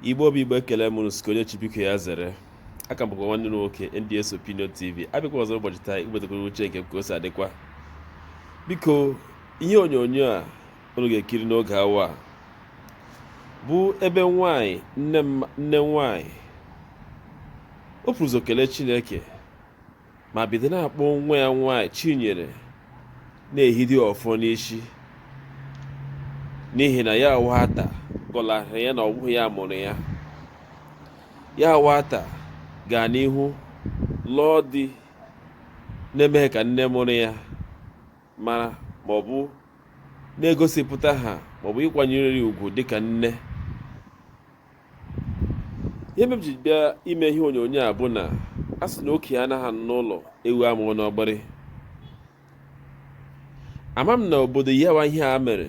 Igbo bụ Igbo ekele m unu sị ka onye chi biko ya zere aka m bụkwa nwanne unu nwoke NDS Opinion TV abịakwa ọzọ ụbọchị taa iwebatakwara uche nke ka o si adịkwa biko ihe onyonyo a unu ga-ekiri n'oge awa a bụ ebe nwanyị nne nwanyị o buru ụzọ kelee Chineke ma bido na-akpọ nwa ya nwaanyị Chinyere na-ehidi ọfọ n'isi n'ihi na ya nwata gọlara ya na ọ bụghị ya mụrụ ya ya nwata gaa n'ihu lụọ di na-emeghị ka nne mụrụ ya mara ma ọ bụ na-egosipụta ha maọbụ ịkwanyere ya ugwu dịka nne ihe mere m ji bịa ime ihe onyonyo a bụ na a sị na okenye anaghị anọ n'ụlọ ewu amụọ n'ọgbịrị ama m na obodo yawa ihe a mere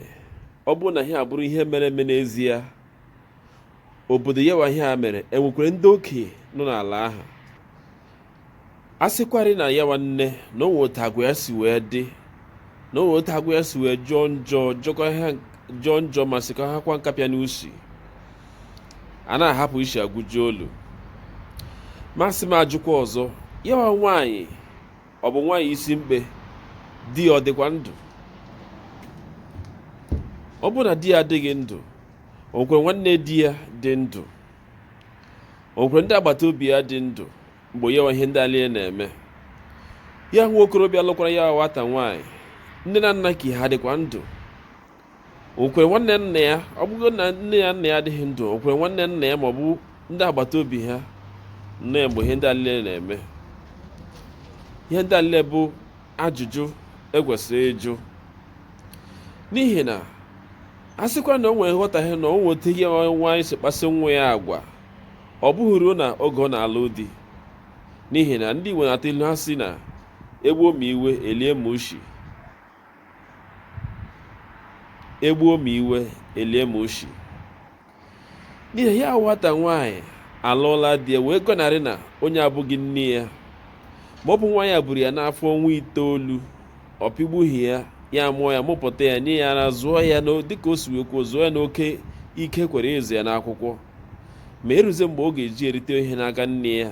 ọ bụrụ na ihe a bụrụ ihe mere eme n'ezie obodo yawa ihe a mere enwekwara ndị okenye nọ n'ala ahụ a sịkwarị na yawa nne na o nwe otu agwa ya si wee dị na o nwe otu agwa ya si wee jọọ njọ jọkọ ihe jọọ njọ ma sịkọ ha kwa nkapịa n'usi a na-ahapụ isi agụji olu ma asị m ajụkwa ọzọ yawa nwaanyị ọ bụ nwaanyị isi mkpe di ya ọ dịkwa ndụ ọ bụrụ na di ya adịghị ndụ o nwekwara nwanne di ya dị ndụ o nwekwara ndị agbata obi ya dị ndụ mgbe yawa ihe ndị a lile na-eme ya nwa okorobịa lụkwara ya nwata nwaanyị nne na nna ka ha dịkwa ndụ o nwekwara nwanne nna ya ọ bụgo na nne ya nna ya adịghị ndụ o nwekwara nwanne nna ya ma ọ bụ ndị agbata obi ha nọ mgbe ihe ndị a lile na-eme ihe ndị a lile bụ ajụjụ e kwesịrị ịjụ n'ihi na a sịkwa na o nwere nghọtahie na o nweta ihe nwaanyị si kpasị nwa ya agwa ọ bụghị ruo n'oge ọ na-alụ di n'ihi na ndị Igbo na-atụ ilu ha sị na egbuo ma iwe elie ma ushi egbuo ma iwe elie ma ushi n'ihi ya nwata nwaanyị alụọla di ya wee gọnarị na onye a abụghị nne ya ma ọ bụ nwaanyị a buru ya n'afọ ọnwa itoolu ọ pịgbughị ya ya mụọ ya mụpụta ya nye ya ara zụọ ya dịka o si wee kwuo zụọ ya n'oke ike kwere ịzụ ya n'akwụkwọ ma eruzie mgbe ọ ga-eji erite ihe n'aka nne ya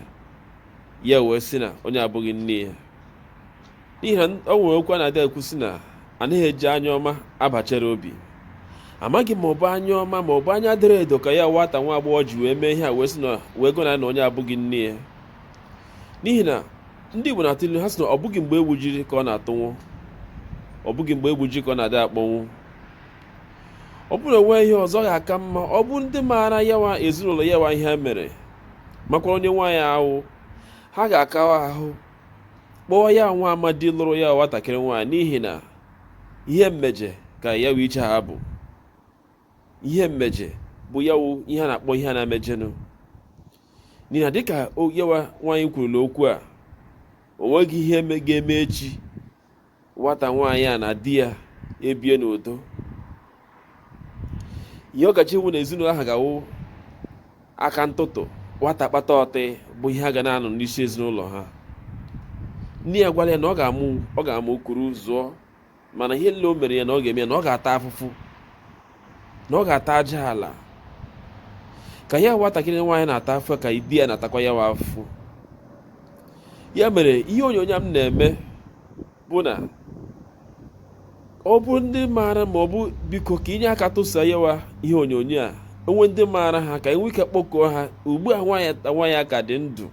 ya wee sị na onye a abụghị nne ya n'ihi na o nwere okwu a na-adị ekwu sị na anaghị eji anya ọma aba Cherubim amaghị ma ọ bụ anya ọma ma ọ bụ anya doro edo ka ya nwata nwa agbọghọ ji wee mee ihe a wee sị na wee gọna na onye abụghị nne ya n'ihi na ndị Igbo na-atụ ilu ha sị na ọ bụghị mgbe egbujiri ka ọ na-atanwụ ọ bụghị mgbe egbujiri ka ọ na-adị akpọnwụ ọ bụrụ na onwe ihe ọzọ ga-aka mma ọ bụ ndị maara yawa ezinụlọ yawa ihe mere makwa onye nwaanyị ahụ ha ga-akawa ahụ kpọọ ya nwa amadi lụrụ ya nwatakịrị nwaanyị n'ihi na ihe mmeje ka yawa ihe a bụ ihe mmeje bụ ya wụ ihe a na-akpọ ihe a na-emejenụ n'ihi na dịka yawa nwaanyị kwurula okwu a o nweghị ihe ga-eme echi nwata nwaanyị a na di ya ebie n'udo ihe ọkacha iwu na ezinụlọ ahụ ga-awụ aka ntụtụ nwata kpata ọtị bụ ihe a ga na-anụ n'isi ezinụlọ ha nne ya gwara ya na ọ ga-amụ ọ ga-amụ kuru zụọ mana ihe nile o mere ya na ọ ga-eme ya na ọ ga-ata afụfụ na ọ ga-ata aja ala ka ya nwatakịrị nwaanyị na-ata afụ ka di ya na-atakwa yawa afụ ya mere ihe onyonyo a m na-eme bụ na ọ bụrụ ndị maara ma ọ bụ biko ka inye aka tụsa yawa ihe onyonyo a onwe ndị maara ha ka enwe ike kpọkọọ ha ugbu a nwata nwaanyị a ka dị ndụ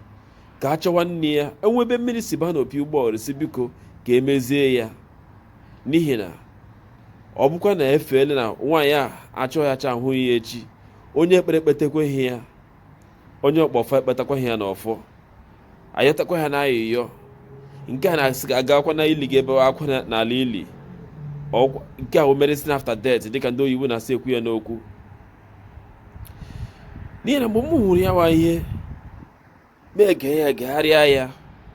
ka a chọwa nne ya onwe ebe mmiri si ba n'opi ụgbọgụrụ sị biko ka emezie ya n'ihi na ọ bụkwa na efeele na nwaanyị a achọghachaa ahụghị ya echi onye ekpere ekpetakwaghị ya onye ọkpọfọ ekpetakwaghị ya n'ọfọ ayọtakwa ya na ayịyọ nke a na-asị ga agakwa na ili ga ebe akwa n'ala ili nke a bụ medicine after death dịka ndị oyibo na-esi ekwu ya n'okwu n'ihi na mgbe m hụrụ yawa ihe na-ege ya egegharịa ya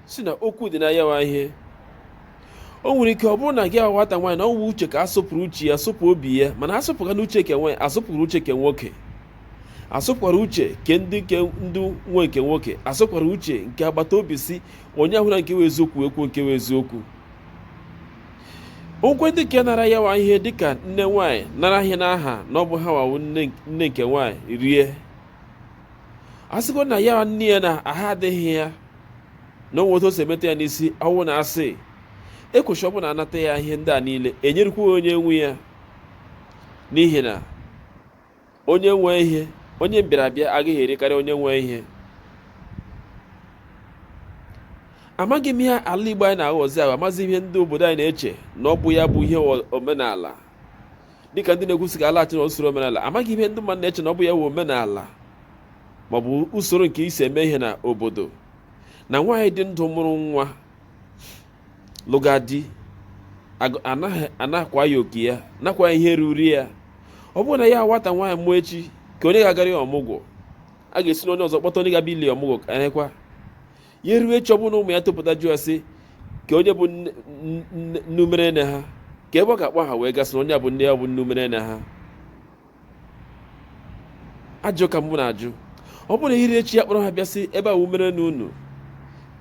sị na okwu dị na yawa ihe o nwere ike ọ bụrụ na gị nwata nwaanyị na ọ wụ uche ka asụpụrụ uche ya asụpụ obi ya mana asụpụga na uche ke nwaanyị asụpụrụ uche ke nwoke asụpụkwara uche ke ndị nke ndị nwe nke nwoke asụpụkwara uche nke agbata obi sị onye ahụna nke wụ eziokwu ekwu nke wụ eziokwu onwekwa ndị nke nara yawa ihe dịka nne nwaanyị nara ihe n'aha na ọ bụ hawa wụ nne nke nwaanyị rie a sịgo na ya nne ya na ahụ adịghị ya na onwe otu o si emeta ya n'isi ọ wụ na asị ekwesịrị ọ bụrụ na anata ya ihe ndị a niile enyerikwa onye nwe ya n'ihi na onye nwe ihe onye mbịarabịa agaghị erikarị onye nwe ihe amaghị m ihe ala Igbo anyị na-aghọzi ahụ amaghị m ihe ndị obodo anyị na-eche na ọ bụ ya bụ ihe omenala dịka ndị na-ekwusi ka alaghachi na usoro omenala amaghị ihe ndị mmadụ na-eche na ọ bụ ya wụ omenala ma ọ bụ usoro nke e si eme ihe na obodo na nwaanyị dị ndụ mụrụ nwa lụga di anakwa ya oke ya nakwa ihe ruru ya ọ bụrụ na ya nwata nwaanyị mụọ echi ka onye ga-agara ya ọmụgwọ a ga-esi na onye ọzọ kpọta onye ga-abịa ile ọmụgwọ ka anyekwa ya erue echi ọ bụrụ na ụmụ ya topụta jụọ ya sị ka onye bụ nne mụrụ nne ha ka ebe ọ ga-akpọ ha wee gaa sị na onye a bụ nne ya bụ nne mụrụ nne ha ajụjụ ka mụ na-ajụ ọ bụrụ na e rue echi ya kpọrọ ha bịa sị ebe a mụrụ nne unu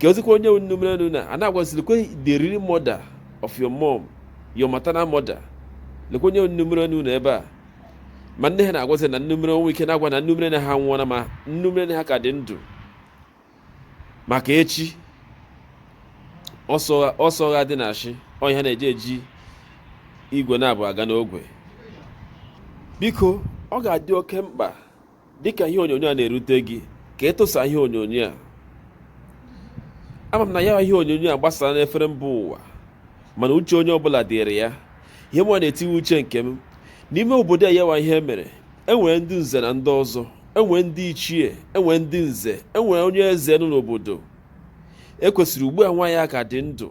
ka o zikwa onye mụrụ nne unu a na-agwazirikwe the real mother of your mom your maternal mother lekwa onye mụrụ nne unu ebe a ma nne ha na-agwazi na nne mụrụ o nwere ike na-agwa na nne mụrụ nne ha nwụọla ma nne mụrụ nne ha ka dị ndụ maka echi ọsọ agha dị na ashị ọnya na-eji eji igwe na-abụ aga n'ogwe biko ọ ga-adị oke mkpa dịka ihe onyonyo a na-erute gị ka ị tụsaa ihe onyonyo a ama m na ya ihe onyonyo a gbasara n'efere mba ụwa mana uche onye ọbụla dịrị ya ihe mụwa na-etiwe uche nke m n'ime obodo ya wụ ihe mere enwere ndị nze na ndị ọzọ enwere ndị ichie enwere ndị nze enwere onye eze nọ n'obodo e kwesịrị ugbu a nwaanyị a ka dị ndụ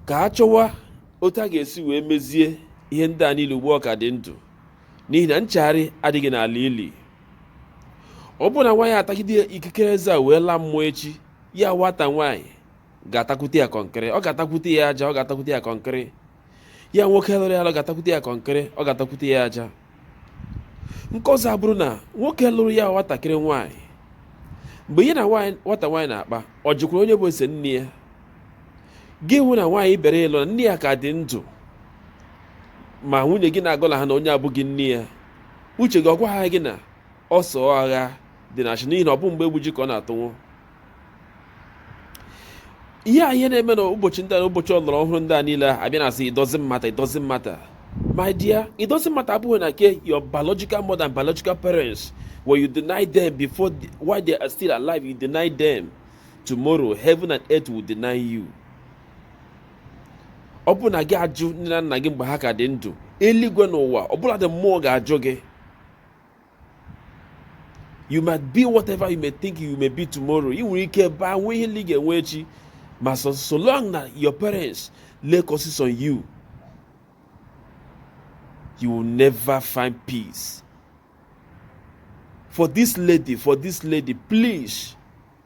ka a chọwa otu a ga-esi wee mezie ihe ndị a niile ugbu ọ ka dị ndụ n'ihi na nchegharị adịghị n'ala ili ọ bụrụ na nwaanyị a tagide ikikere eze a wee laa mmụọ echi ya nwata nwaanyị ga-atakwute ya kọnkịrị ọ ga-atakwute ya aja ọ ga-atakwute ya kọnkịrị ya nwoke lụrụ ya lụ ga-atakwute ya kọnkịrị ọ ga-atakwute ya aja nke ọzọ abụrụ na nwoke lụrụ ya nwatakịrị nwaanyị mgbe ya na nwata nwaanyị na-akpa ọ jụkwara onye bụ ezi nne ya gị hụ na nwaanyị ị bịara ịlụ na nne ya ka dị ndụ ma nwunye gị na-agọlaha na onye abụghị nne ya uche gị ọ gwaghị gị na ọsọ agha dị na achị n'ihi na ọ bụ mgbe e gbuji ka ọ na-atanwụ ihe a ihe na-eme na ụbọchị ndị a na ụbọchị ọlọrọ ọhụrụ ndị a niile a bịa na-asị it doesn't matter it doesn't matter my dear it doesn't matter abụghị na nke your biological mother and biological parents when you deny them before the, while they are still alive you deny them tomorrow heaven and earth will deny you ọ bụrụ na gị ajụ nne na nna gị mgbe ha ka dị ndụ eluigwe na ụwa ọbụladị mmụọ ga-ajụ gị you might be whatever you may think you may be tomorrow ị nwere ike baa nwee ihe ndị ị ga-enwe echi ma so, so long na your parents lay curses on you you will never find peace for this lady for this lady please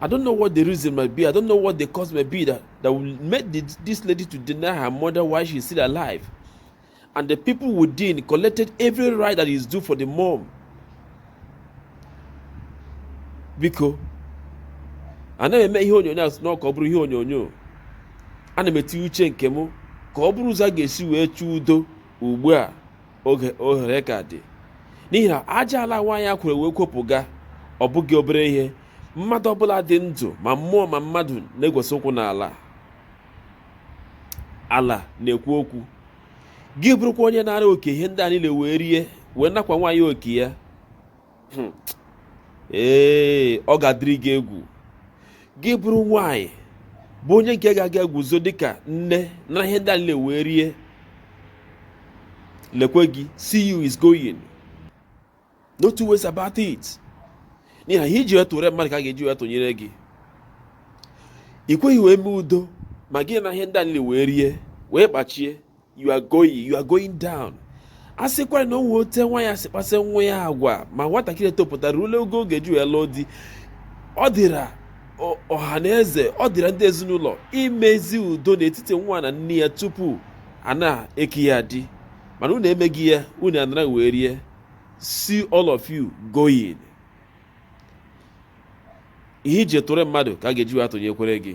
I don't know what the reason might be. I don't know what the cause might be that, that will make the, this lady to deny her mother while she's still alive. And the people within collected every right that is due for the mom. Biko, anaghị m eme ihe onyonyo a sị na ka ọ bụrụ ihe onyonyo ana m etinye uche nke m ka ọ bụrụ ụzọ a ga-esi wee chụọ udo ugbu a oge ohere ka dị n'ihi na aja ala nwaanyị a kworo wee kwopụga ọ bụghị obere ihe mmadụ ọbụla dị ndụ ma mmụọ ma mmadụ na-egwesị ụkwụ n'ala ala na-ekwu okwu gị bụrụkwa onye naara oke ihe ndị a niile wee rie wee nakwa nwaanyị oke ya hmm. ee ọ ga-adịrị gị egwu gị bụrụ nwanyị bụ onye nke ga-aga guzo dịka nne nara ihe ndị a nile wee rie lekwe gị see you is going no two ways about it n'ihi na ihe i ji wee tụrụ mmadụ ka a ga-eji wee tụnyere gị ị kweghị wee mee udo ma gị naa ihe ndị a nile wee rie wee kpachie you are going you are going down a sịkwara na o nwe ote nwa ya si kpasị nwa ya agwa ma nwatakịrị etopụta rule ogo ọ ga-eji wee laa di ọ dịra ọha na eze ọ dịra ndị ezinụlọ imezi udo n'etiti nwa na nne ya tupu a na-eke ya di mana unu emeghị ya unu anara wee rie see all of you going ihe i ji tụrụ mmadụ ka a ga-eji wee tụnyekwara gị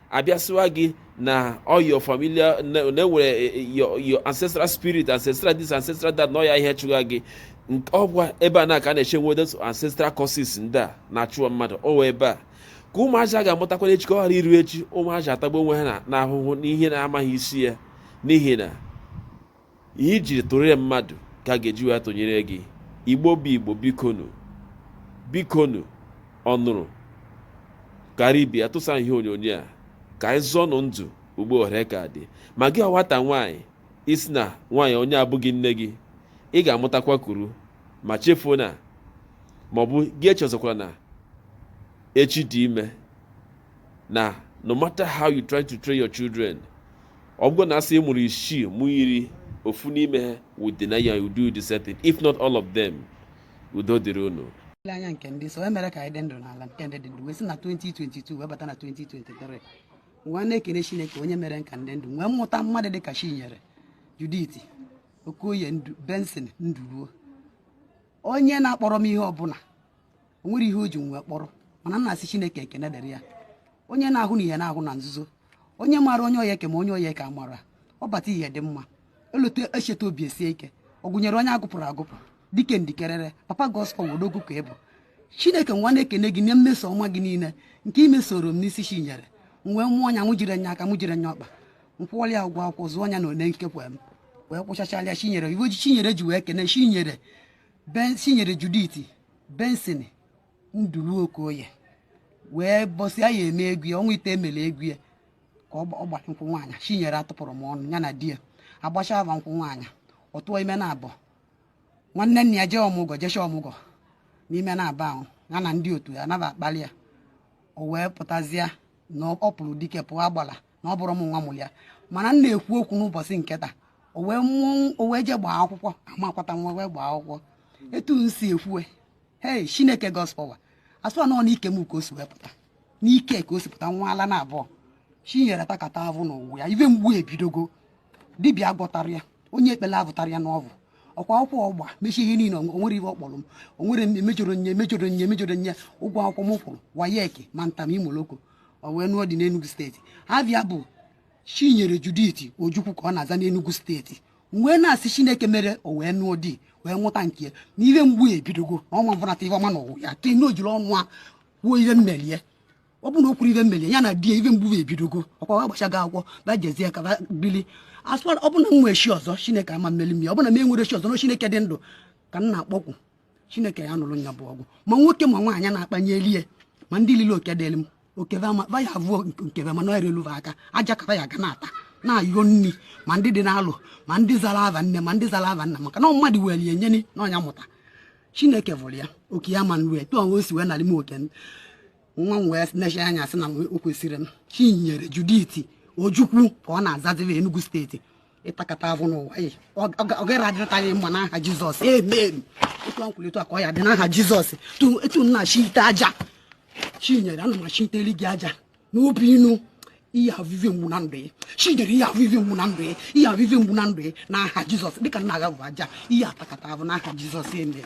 a bịa sịwa gị na all your familiar na na e nwere eh, eh, your your ancestral spirit ancestral this ancestral that na ọ ya ihe chụga gị Nk- ọ wa ebe a na ka a na-esi enwe those ancestral curses ndị a na-achụwa mmadụ ọ wa ebe a ka ụmụazị a ga-amụtakwanụ echi ka ọ ghara iru echi ụmụazị atagbu onwe ha na- n'ahụhụ n'ihe na-amaghị isi ya n'ihi na ihe i jiri tụrụ mmadụ ka a ga-eji wee tụnyere gị igbo bụ igbo bikonu bikonu ọnụrụ kara ibe ya tụsa ihe onyonyo a ka anyị zọọnụ ndụ ugbu a ohere ka dị ma gị nwata nwaanyị ị sị na nwaanyị onye abụghị nne gị ị ga-amụtakwa kuru ma echefuna maọbụ gị echezọkwara na echi dị ime na no matter how you try to train your children ọ bụrụ na a sị ị mụrụ isii mụọ iri ofu n'ime ha would deny you and do the same thing if not all of them udo dịrị unu niile anya nke ndị so e mere ka anyị dị ndụ n'ala nke ndị dị ndụ wee si na 2022 wee bata na 2023 wee na-ekene chineke onye mere ka ndị ndụ wee mụta mmadụ dị ka chinyere judith okoye benson nduruo onye na-akpọrọ m ihe ọbụla o nwere ihe o ji nwe kpọrọ mana m na-asị chineke ekene dịrị ya onye na-ahụ na ihe na-ahụ na nzuzo onye maara onye ọ ya-eke ma onye ọ ya-eke amara ọ bata ihe dị mma elote echeta obi esie ike ọ gụnyere onye a gụpụrụ agụpụ dike ndikerere papa gospel odogwu ka ị bụ chineke mụwa na-ekene gị na mmeso ọma gị niile nke i mesoro m n'isi chinyere m wee mụọ nya mụ jiri nya aka mụ jiri nya ọkpa m kwụwara ya ụgwọ akwụkwọ zụọ nya na one nkekwa m wee kwụchachala ya chinyere iwe ji chinyere ji wee kene chinyere Ben Chinyere Judith Benson Ndulu Okoye wee bọsịa ya ime ego ya ọnwa ite e mere ego ya ka ọ gbara nkwụ nwaanyị Chinyere atụpụrọ m ọnụ ya na di ya agbacha ava nkwụ nwaanyị ọ tụọ ime naabọ nwanne nna ya jee ọmụgwọ jecha ọmụgwọ n'ime naabọ ahụ ya na ndị otu ya anaba akpali ya o wee pụtazịa na ọ pụrụ dike pụọ agbala na ọ bụrọ mụwa mụrụ ya mana m na-ekwu okwu n'ụbọchị nke taa o wee mụọ o wee jee gbaa akwụkwọ amakwata nwa wee gbaa akwụkwọ etu m si ekwuwe hei chineke gospel wa asụ anọ n'ike m ka o si wee pụta n'ike ka o si pụta nwa ala naabọ chinyere takata avụ n'ụwa ya ive mgbu ebidogo dibịa gwọtara ya onye ekpele avụtara ya n'ọvụ ọkwa akwụkwọ ọ gba mechie ihe niile o nwere ihe ọ kpọrọ m o nwere emejọrọ nye emejọrọ nye emejọrọ nye ụgwọ akwụkwọ m kwụrụ WAEC ma ntam imoloko o wee nụọ di n'Enugu steeti ava bụ Chinyere Judith Ojukwu ka ọ na-aza n'Enugu steeti wee na-asị Chineke mere o wee nụọ di wee mụta nke ya na ihe mgbu ya ebidogo na ọnwa mbụnata ihe ọma n'ụwa ya ke na o jiri ọnụ ya kwuo ihe m meli e ọ bụ na o kwuru ihe m meli e ya na di ya ihe mgbu ya ebidogo ọkwa va agbachago akwụkwọ va jezie ka va bili asụkwara ọ bụ na m nwee chi ọzọ Chineke ama mmeli m ya ọ bụ na m enwere chi ọzọ na Chineke dị ndụ ka m na-akpọku chineke ya nụrụ nya bụ ọgụ ma nwoke ma nwaanyị na-akpanye elie ma ndị lili oke dịrị m oke ve va ya avụọ nke ve mana ọ erelu va aka aja ka va ya ga na-ata na-ayọ nri ma ndị dị n'alụ ma ndị zara ava nne ma ndị zara ava nna maka na mmadụ were ya enyeni na ọnya mụta chineke vụrụ ya oke ya ma nwee etu o si wee narị m oke nwa m wee nechi anya sị na o kwesịrị m chinyere judith ojukwu ka ọ na-azazi n'enugu steeti ị takata avụ n'ụwa ọ gaghị adịrịta gị mma n'aha jizọs amen etu a m kwulu taa ka ọ ya-adị n'aha jizọs etu m na-achite aja chinyere ana m achiteli gị aja n'obi inu ị ya-avụ ive mgbu na ndụ ya chinyere ị ya-avụ ive mgbu na ndụ ya ị ya-avụ ive mgbu na ndụ ya n'aha jizọs dịka m na-aghavụ aja ị ya-atakata avụ n'aha jizọs amen